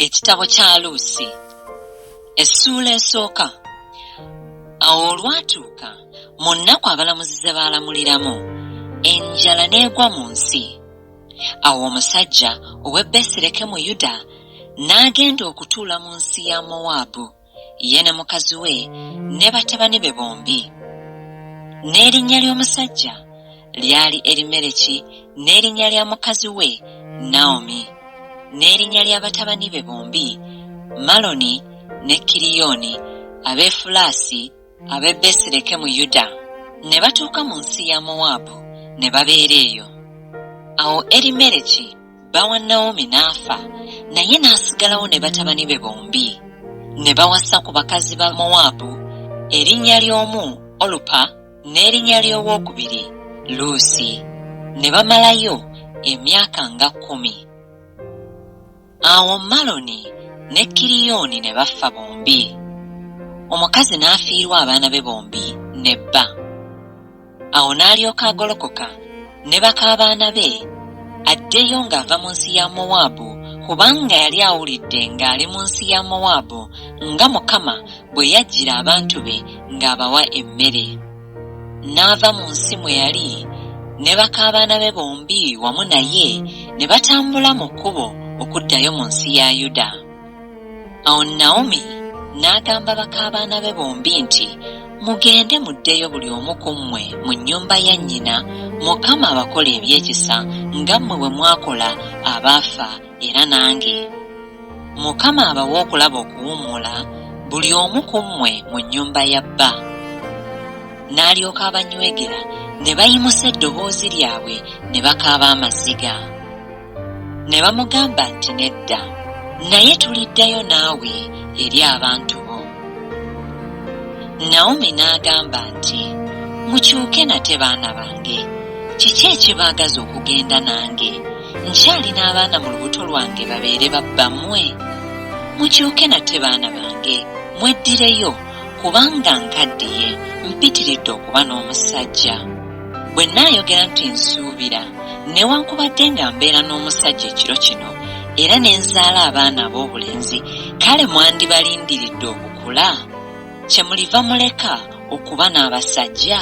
ekitabo kya luusi essuula esooka awo olwatuuka mu nnaku abalamuzi ze baalamuliramu enjala n'egwa mu nsi awo omusajja ow'e besirekemu yuda n'agenda okutuula mu nsi ya mowaabu ye ne mukazi we ne batabani be bombi. N'erinnya ly'omusajja lyali Erimereki n'erinnya lya mukazi we Nawomi, n'erinnya lya batabani be bombi Maloni ne Kiriyoni Abeefulaasi, Ab'e Besireke mu Yuda ne batuuka mu nsi ya Mowaabu ne babeera eyo. Awo Erimereki bba wa Nawomi n'afa, naye n'asigalawo ne batabani be bombi. Ne bawasa ku bakazi ba Mowaabu, erinnya ly'omu Olupa n'erinnya ly'owokubiri Luusi, ne bamalayo emyaka nga kkumi. Awo Maloni ne Kiriyooni ne baffa bombi, omukazi n'afiirwa abaana be bombi ne bba. Awo n'alyoka agolokoka ne baka baana be addeyo ng'ava mu nsi ya Mowaabu, kubanga yali awulidde ng'ali mu nsi ya Mowaabu nga Mukama bwe yajjira abantu be ng'abawa emmere. n'ava mu nsi mwe yali ne bakaabaana be bombi wamu naye ne batambula mu kkubo okuddayo mu nsi ya Yuda. Awo Nawomi n'agamba bakaabaana be bombi nti, Mugende muddeyo buli omu ku mmwe mu nnyumba ya nnyina, Mukama abakole ebyekisa nga mmwe bwe mwakola abaafa era nange mukama abawe okulaba okuwummula buli omu ku mmwe mu nnyumba ya bba n'alyoka abanywegera ne bayimusa eddoboozi lyabwe ne bakaaba amaziga ne bamugamba nti nedda naye tuliddayo naawe eri abantu bo nawomi n'agamba nti mukyuke nate baana bange kiki ekibaagaza okugenda nange nkyalina abaana mu lubuto lwange babeere babbamwe mukyuke nate baana bange mweddireyo kubanga nkaddiye mpitiridde okuba n'omusajja bwe naayogera nti nsuubira newankubadde nga mbeera n'omusajja ekiro kino era ne nzaala abaana ab'obulenzi kale mwandibalindiridde okukula kye muliva muleka okuba n'abasajja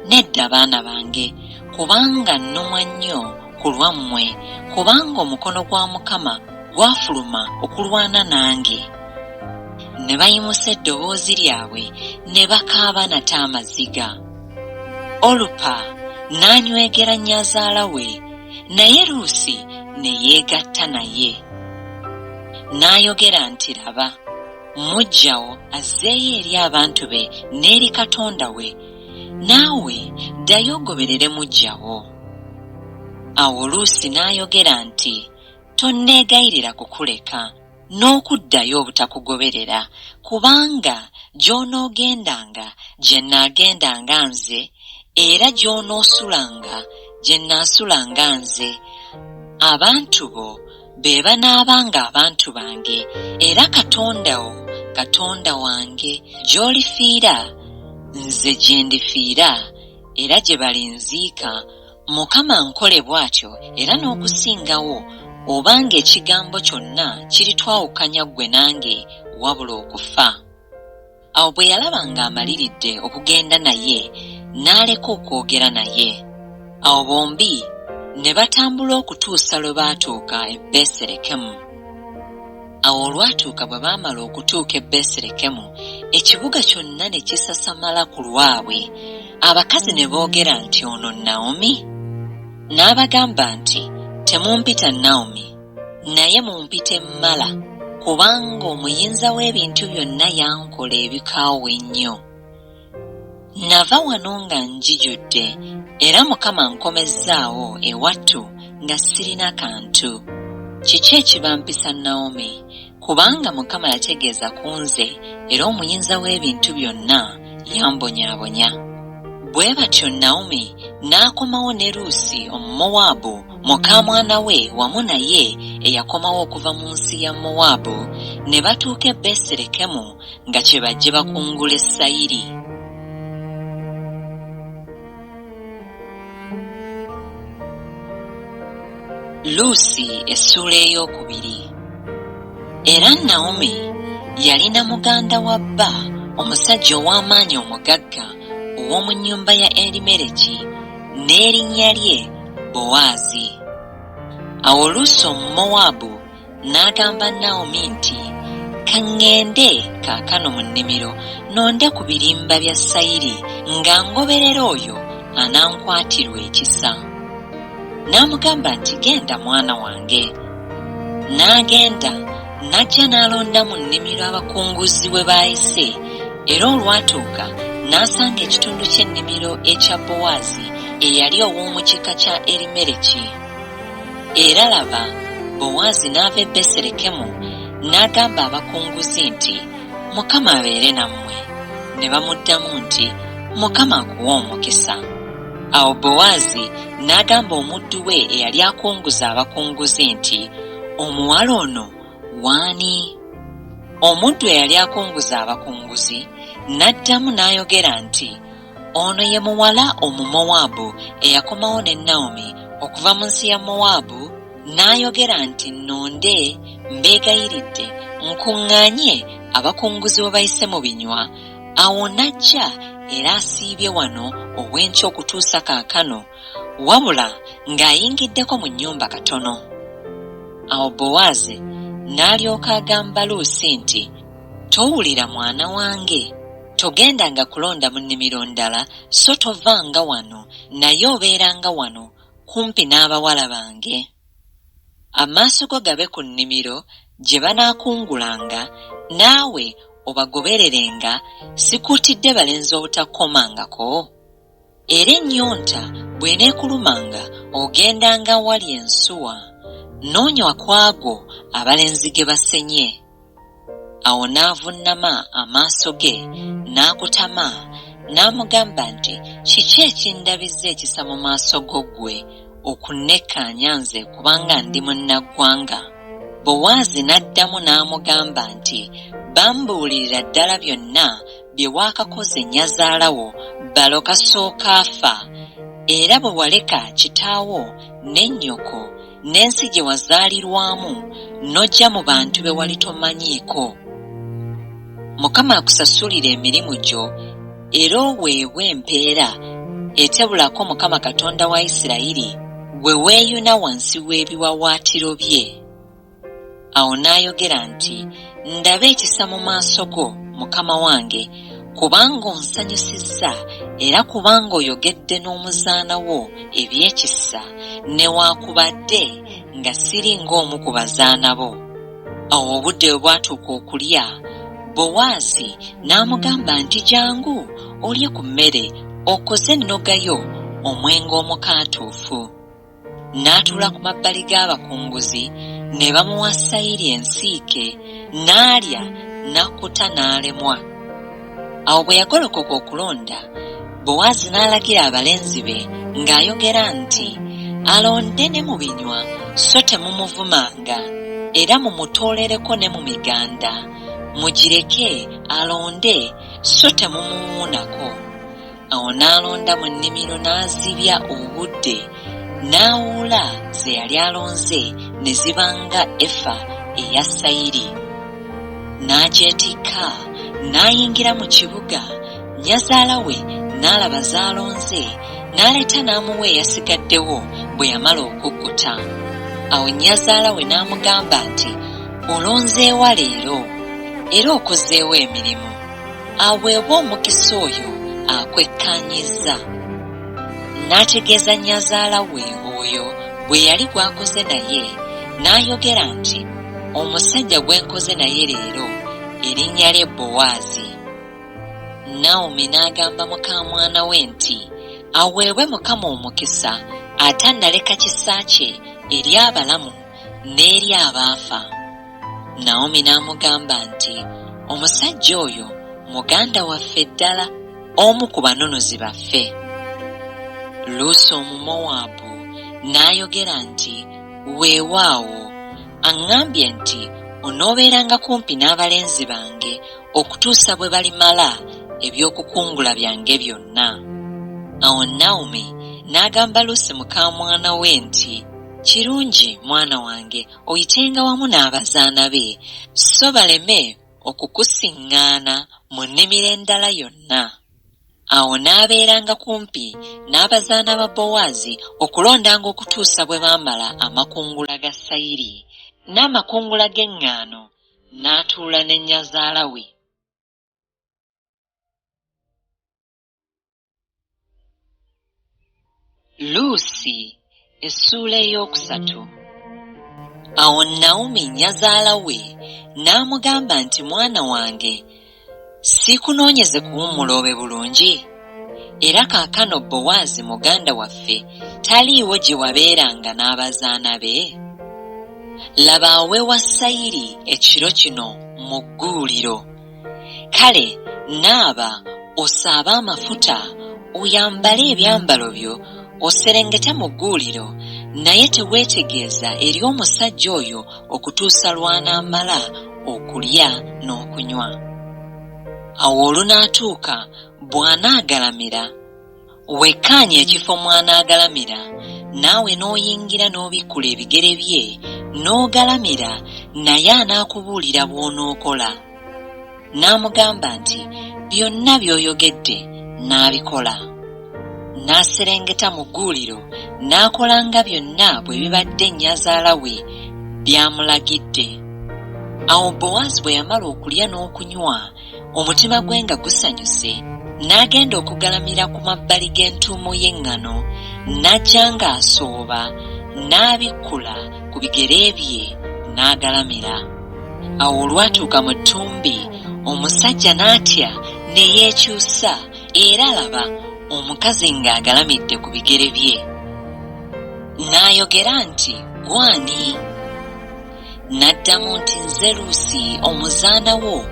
Nedda baana bange, kubanga nnumwa nnyo ku lwammwe, kubanga omukono gwa Mukama gwafuluma okulwana nange. Ne bayimusa eddoboozi lyabwe ne bakaaba nate amaziga. Olupa n'anywegera nnyazaala we, naye Luusi ne yeegatta naye. N'ayogera nti, Laba, muggya wo azzeeyo eri abantu be n'eri Katonda we, naawe ddayo ogoberere muggya wo. Awo Luusi n'ayogera nti, Tonneegayirira kukuleka n'okuddayo obutakugoberera, kubanga gy'onoogendanga gye nnaagendanga nze, era gy'onoosulanga gye nnaasulanga nze, abantu bo be banaaba ng'abantu bange, era Katonda wo, Katonda wange, gy'olifiira, nze gye ndifiira, era gye balinziika, Mukama ankole bw'atyo era n'okusingawo, obanga ekigambo kyonna kiritwawukanya ggwe nange, wabula okufa. Awo bwe yalaba ng'amaliridde okugenda naye, n'aleka okwogera naye. Awo bombi ne batambula okutuusa lwe baatuuka e Besirekemu. Awo olwatuuka bwe baamala okutuuka e Besirekemu, ekibuga kyonna ne kisasamala ku lwabwe, abakazi ne boogera nti, Ono Nawomi? N'abagamba nti, Temumpita Nawomi. naye mumpite mmala kubanga omuyinza w'ebintu byonna yankola ebikaawa ennyo. Nava wano nga njijudde era Mukama ankomezzaawo ewattu nga sirina kantu. Kiki ekibampisa Naomi? Kubanga Mukama yategeeza ku nze, era Omuyinza w'Ebintu Byonna yambonyaabonya. Bwe batyo Nawomi n'akomawo ne Luusi Omumowaabu, mukaamwana we wamu naye eyakomawo okuva mu nsi ya Mowaabu, ne batuuka e Besirekemu nga kye bajje bakungule sayiri. luusi essuula ey'okubiri era nawomi yalina muganda wa bba omusajja ow'amaanyi omugagga ow'omu nnyumba ya erimereki n'erinnya lye bowaazi awo luusi omumowaabu N'agamba Nawomi nti, Ka ŋŋende kaakano mu nnimiro nonde ku birimba bya sayiri, nga ngoberera oyo anankwatirwa ekisa. N'amugamba nti, Genda mwana wange. N'agenda, n'ajja n'alonda mu nnimiro abakunguzi we baayise, era olwatuuka n'asanga ekitundu ky'ennimiro ekya Bowaazi eyali ow'omu kika kya Erimereki. Era laba, Bowaazi n'ava e Besirekemu n'agamba abakunguzi nti, Mukama abeere nammwe. Ne bamuddamu nti, Mukama akuwe omukisa. Awo Bowaazi n'agamba omuddu we eyali akunguza abakunguzi nti, Omuwala ono w'ani? Omuddu eyali akunguza abakunguzi n'addamu n'ayogera nti, Ono ye muwala Omumowaabu eyakomawo ne Nawomi okuva mu nsi ya Mowaabu n'ayogera nti, Nnonde, mbeegayiridde, nkuŋŋaanye abakunguzi babayise mu binywa. Awo n'ajja era asiibye wano obw'enkya okutuusa kaakano, wabula ng'ayingiddeko mu nnyumba katono. Awo Bowaazi n'alyoka agamba Luusi nti, Towulira mwana wange? Togendanga kulonda mu nnimiro ndala, so tovanga wano, naye obeeranga wano kumpi n'abawala bange. Amaaso go gabe ku nnimiro gye banaakungulanga, naawe obagobererenga, sikuutidde balenzi obutakukomangako? Era ennyonta bw'eneekulumanga ogendanga awali ensuwa, n'onywa ku ago abalenzi ge basenye. Awo n'avunnama amaaso ge, n'akutama, n'amugamba nti, Kiki ekindabizza ekisa mu maaso go ggwe okunnekkaanya nze kubanga ndi munnaggwanga? Bowaazi n'addamu n'amugamba nti, Bambuulirira ddala byonna bye waakakoze nnyazaala wo balo kasooka afa era bwe waleka kitaawo ne nnyoko n'ensi gye wazaalirwamu n'ojja mu bantu be wali tomanyiiko. Mukama akusasulire emirimu gyo era oweebwe empeera etebulako Mukama Katonda wa Isirayiri gwe weeyuna wansi w'ebiwawaatiro bye. Awo n'ayogera nti, Ndaba ekisa mu maaso go, mukama wange, kubanga onsanyusizza, era kubanga oyogedde n'omuzaana wo eby'ekisa, newaakubadde nga siri ng'omu ku bazaana bo. Awo obudde bwe bwatuuka okulya, Bowaazi n'amugamba nti, Jangu olye ku mmere, okoze ennoga yo, omwenge omukaatuufu. n'atuula ku mabbali g'abakunguzi ne bamuwa sayiri ensiike n'alya n'akkuta n'alemwa awo bwe yagolokoka okulonda bowaazi n'alagira abalenzi be ng'ayogera nti alonde ne mu binywa so temumuvumanga era mumutoolereko ne mu miganda mugireke alonde so temumuwuunako Awo n'alonda mu nnimiro n'azibya obudde, n'awuula ze yali alonze ne ziba nga efa eya sayiri. N'agyetikka, n'ayingira mu kibuga, nnyazaala we n'alaba z'alonze, n'aleeta n'amuwa eyasigaddewo bwe yamala okukkuta. Awo nnyazaala we n'amugamba nti, Olonzeewa leero? Era okozeewa emirimu? aweebwe omukisa oyo akwekkaanyizza n'ategeeza nnyazaala we oyo gwe yali gw'akoze naye n'ayogera nti omusajja gwe nkoze naye leero erinnya lye bowaazi nawomi n'agamba muka mwana we nti aweebwe mukama omukisa ate annaleka kisa kye eri abalamu n'eri abaafa Naomi n'amugamba nti, Omusajja oyo muganda waffe ddala, omu ku banunuzi baffe. Luusi Omumowaabu n'ayogera nti, Weewaawo, aŋŋambye nti onoobeeranga kumpi n'abalenzi bange okutuusa bwe balimala eby'okukungula byange byonna. Awo Naomi n'agamba Luusi mukaamwana we nti, Kirungi, mwana wange. oyitenga wamu n'abazaana be, sso baleme okukusinngaana mu nnimiro endala yonna. Awo n'abeeranga kumpi n'abazaana ba Bowaazi okulondanga okutuusa bwe baamala amakungula ga sayiri n'amakungula g'eŋŋaano, n'atuula ne nnyazaala we. luusi essuula ey'okusatu awo nawumi nnyazaala we n'amugamba nti mwana wange siikunoonyeze kuwummula obe bulungi era kaakano bowaazi muganda waffe taliiwo gye wabeeranga n'abazaana be laba awewa sayiri ekiro kino mu gguuliro kale naaba osaabe amafuta oyambale ebyambalo byo oserengete mu gguuliro naye teweetegeeza eri omusajja oyo okutuusa lw'anaamala okulya n'okunywa. Awo olunaatuuka bw'anaagalamira Wekkaanye ekifo mw'anaagalamira, naawe n'oyingira n'obikkula ebigere bye, n'ogalamira, naye anaakubuulira bw'onookola. N'amugamba nti, Byonna by'oyogedde nnaabikola. N'aserengeta mu gguuliro, n'akola nga byonna bwe bibadde nnyazaala we by'amulagidde. Awo Bowaazi bwe yamala okulya n'okunywa, omutima gwe nga gusanyuse n'agenda okugalamira ku mabbali g'entuumo y'eŋŋano n'ajja ng'asooba n'abikkula ku bigere bye n'agalamira awo olwatuuka mu ttumbi omusajja n'atya ne yeekyusa era laba omukazi ng'agalamidde ku bigere bye n'ayogera nti gwani N'addamu nti, Nze Luusi, omuzaana wo,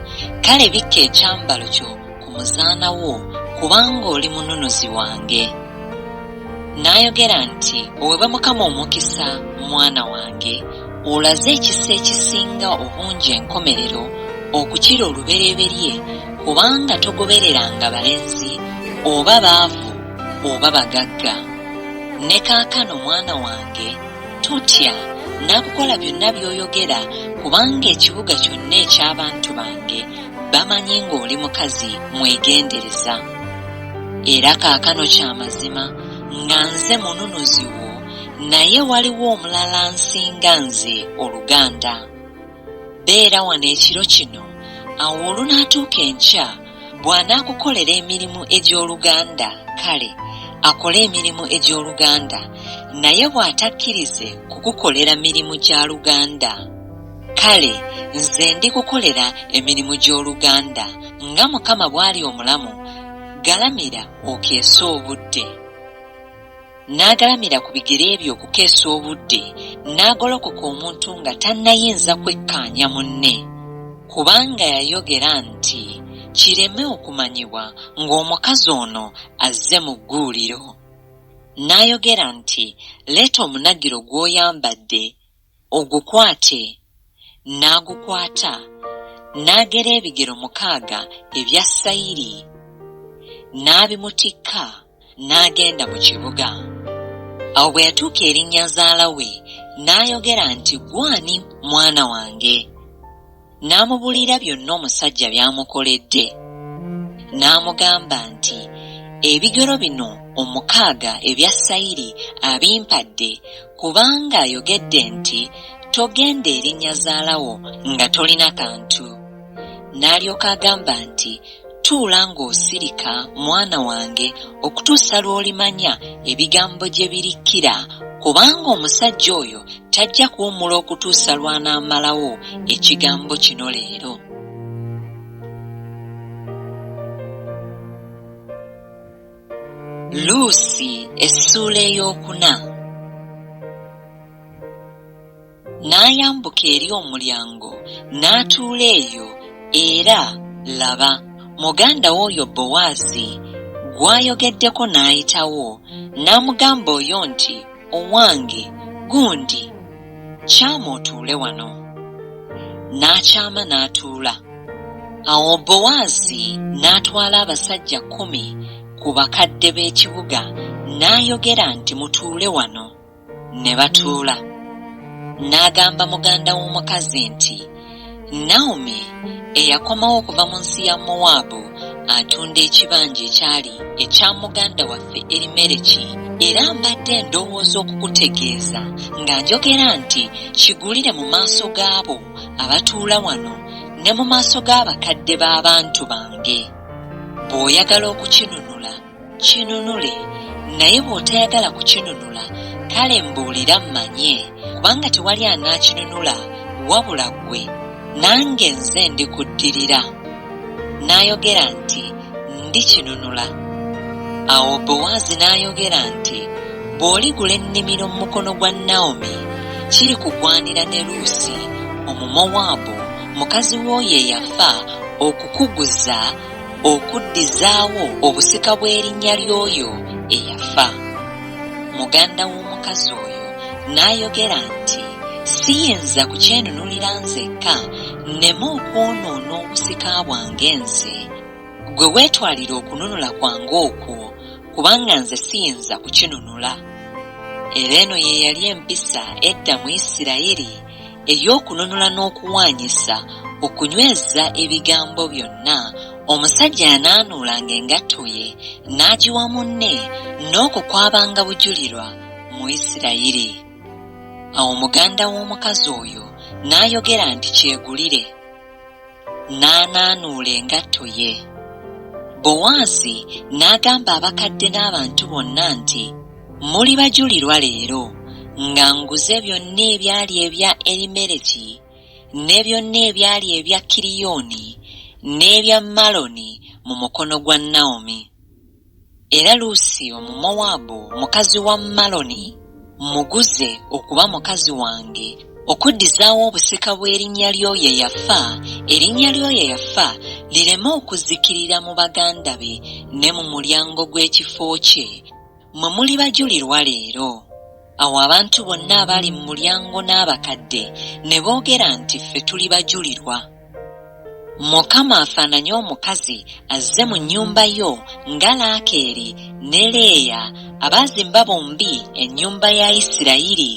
kale bikka ekyambalo kyo ku muzaana wo, kubanga oli mununuzi wange. N'ayogera nti, Oweebwe Mukama omukisa, mwana wange, olaze ekisa ekisinga obungi enkomerero okukira olubereberye, kubanga togobereranga balenzi, oba baavu, oba bagagga. Ne kaakano, mwana wange, totya nakukola byonna byoyogera kubanga ekibuga kyonna eky'abantu bange bamanyi ng'oli mukazi mwegendereza era kaakano kya mazima nga nze mununuzi wo naye waliwo omulala nsinga nze oluganda Beera wano ekiro kino, awo olunaatuuka enkya, bw'anaakukolera emirimu egy'oluganda, kale, akole emirimu egy'oluganda, naye bw'atakkirize kukukolera mirimu gya luganda, kale nze ndikukolera emirimu gy'oluganda, nga Mukama bw'ali omulamu, galamira okeese obudde. n'agalamira ku bigere bye okukeesa obudde n'agolokoka omuntu nga tannayinza kwekkaanya munne kubanga yayogera nti kireme okumanyibwa ng'omukazi ono azze mu gguuliro n'ayogera nti leeta omunagiro gw'oyambadde Ogukwate. N'agukwata, n'agera ebigero mukaaga ebya sayiri, n'abimutikka, n'agenda mu kibuga. Awo bwe yatuuka eri nnyazaala we, n'ayogera nti, Ggwe ani, mwana wange? n'amubuulira byonna omusajja by'amukoledde. N'amugamba nti, Ebigero bino omukaaga ebya sayiri abimpadde, kubanga ayogedde nti, Togenda eri nnyazaala wo nga tolina kantu. N'alyoka agamba nti, Tuula ng'osirika, mwana wange, okutuusa lw'olimanya ebigambo gye birikkira, kubanga omusajja oyo tajja kuwummula okutuusa lw'anaamalawo ekigambo kino leero. Luusi essuula ey'okuna. N'ayambuka eri omulyango n'atuula eyo, era, laba, muganda we oyo Bowazi, gw'ayogeddeko n'ayitawo, n'amugamba oyo nti, Owange, gundi, kyama otuule wano. N'akyama n'atuula. Awo Bowazi n'atwala abasajja kkumi ku bakadde b'ekibuga, n'ayogera nti, Mutuule wano. ne batuula n'agamba muganda w'omukazi nti naomi eyakomawo okuva mu nsi ya mowaabu atunda ekibanja ekyali ekya muganda waffe erimereki era mbadde ndowooza okukutegeeza nga njogera nti kigulire mu maaso gaabo abatuula wano ne mu maaso g'abakadde b'abantu bange bw'oyagala okukinunula kinunule naye bw'otayagala kukinunula kale mbuulira mmanye kubanga tewali anaakinunula wabula ggwe nange nze ndikuddirira n'ayogera nti ndikinunula awo bowaazi n'ayogera nti bw'oligula ennimiro mu mukono gwa nawomi kiri kugwanira ne luusi omumowaabu mukazi w'oyo eyafa okukuguza okuddizaawo obusika bw'erinnya ly'oyo eyafa. Muganda w'omukazi oyo n'ayogera nti, Siyinza kukyenunulira nzekka nneme okwonoona obusika bwange nze. Ggwe weetwalire okununula kwange okwo, kubanga nze siyinza kukinunula. Era eno ye yali empisa edda mu Isirayiri. ey'okununula n'okuwaanyisa okunyweza ebigambo byonna omusajja yanaanuulanga engatto ye n'agiwa munne n'okwo kwabanga bujulirwa mu Isirayiri. Awo muganda w'omukazi oyo n'ayogera nti, Kyegulire. n'anaanuula engatto ye. Bowaazi n'agamba abakadde n'abantu bonna nti, Muli bajulirwa leero nga nguze byonna ebyali ebya Elimeleki, ne byonna ebyali ebya Kiriyoni, n'ebya Maloni mu mukono gwa Nawomi. Era Luusi Omumowaabu, mukazi wa Maloni, mmuguze okuba mukazi wange, okuddizaawo obusika bw'erinnya ly'oyo eyafa, erinnya ly'oyo eyafa lireme okuzikirira mu baganda be ne mu mulyango gw'ekifo kye, mmwe muli bajulirwa leero. Awo abantu bonna abaali mu mulyango n'abakadde ne boogera nti, Ffe tuli bajulirwa. Mukama afaananye omukazi azze mu nnyumba yo nga Laakeeri ne Leeya abaazimba bombi ennyumba ya Isirayiri,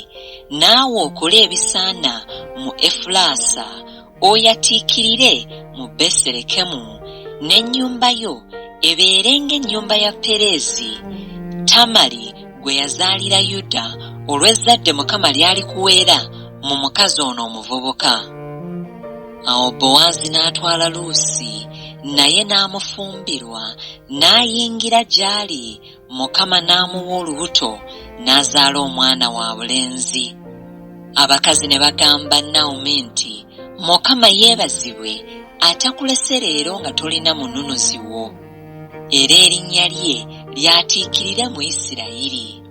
naawe okole ebisaana mu Efulaasa, oyatiikirire mu Besirekemu, n'ennyumba yo ebeere ng'ennyumba ya Pereezi, Tamari gwe yazaalira yuda olw'ezzadde mukama ly'alikuweera mu mukazi ono omuvubuka awo bowaazi n'atwala luusi naye n'amufumbirwa n'ayingira gy'ali mukama n'amuwa olubuto n'azaala omwana wa bulenzi abakazi ne bagamba nawomi nti mukama yeebazibwe atakulese leero nga tolina mununuzi wo era erinnya lye lyatiikirira mu Isirayiri.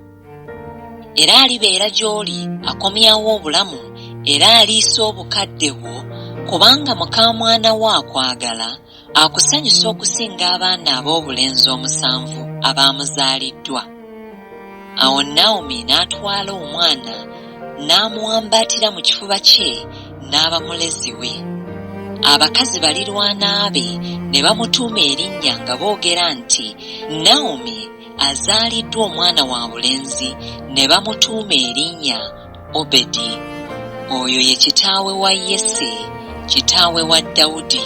Era alibeera gy'oli akomyawo obulamu era aliisa obukadde bwo, kubanga mukaamwana wo akwagala, akusanyusa okusinga abaana aboobulenzi omusanvu abaamuzaaliddwa. awo nawomi n'atwala omwana n'amuwambaatira mu kifuba kye n'aba mulezi we abakazi balirwana be ne bamutuuma erinnya nga boogera nti nawomi azaaliddwa omwana wa bulenzi ne bamutuuma erinnya obedi oyo ye kitaawe wa yese kitaawe wa dawudi